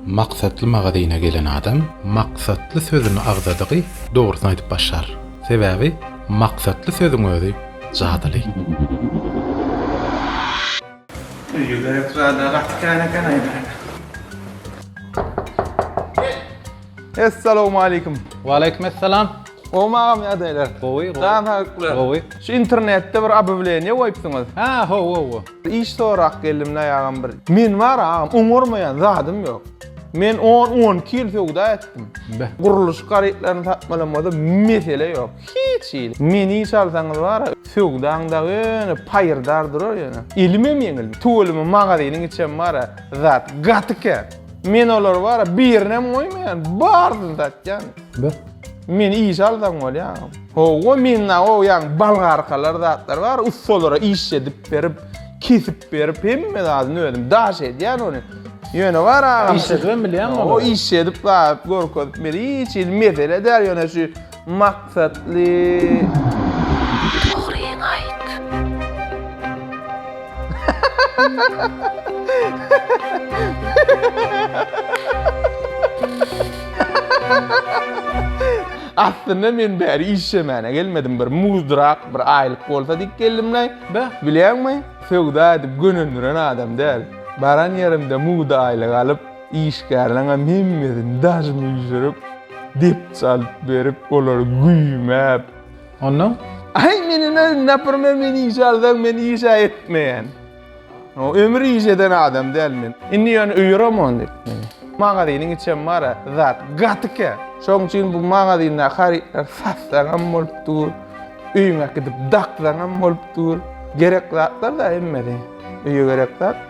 Maksatly magazyna gelen adam maksatly sözüni agzadygy dogrusyny aýdyp başlar. Sebäbi maksatly sözüň özi jadyly. Öýe gerek zada gaty kän eken aýdaýda. Essalowmaleýkim. Waleýkim essalam. Gowmy agam ýagdaýlar? Gowy gowy. Jan sagyklar. Gowy. Şu internetde bir obywleniýe goýupsyňyz. Hä ho wo wo. Iş sorak geldim dayagam bir. Men var agam oňarmayan zadım yok. Men 10-12 yıl söwda etdim. Guruluş garytlaryny satmalamada mesele yok. Hiç il. Men iş alsaňyz var ya söwdaň da öne payırdar durar yani. Elime yengil. Tuvalimi magazinin içem var ya zat gatıken. Men olar var ya birine mi koymayan bardı zat yani. Ber. Meni işe alsaň bolýa. Howwa menda o ýaň balgarkalar zatlar bar, ussalara iş edip berip, kesip berip hemme zadyny özüm daş edýän ony. Ýöne bar agam. Iş edip bilýän bolýar. O iş edip zat görkezip meni hiç hili mesele däl, ýöne şu maksatly. Aslynda men bäri işlemäne gelmedim. Bir muzdyrak, bir aýlyk bolsa diýip geldim-le. Beh, bilýäňmi, söwda edip gönendiren adam däl. Baran ýerimde mugt aýlyk alyp, işgärleriňem hemmesini daş müýşürip, depçe alyp berip, olary güýmäp, Ondan, Aý, meniň öz napyrma men iş alsaň, men iş-ä etmeýän. Ömür iş eden adam däl men. Indi ýöne öýeremon diýip, magazynyň içem bar-a, zat gatykä. Şoň üçin bu magazyndaky harytlary satsaňam bolup dur, öýüňe äkidip daksaňam bolup dur. Gerek zatlar-da hemmesi, öýe gerek zat.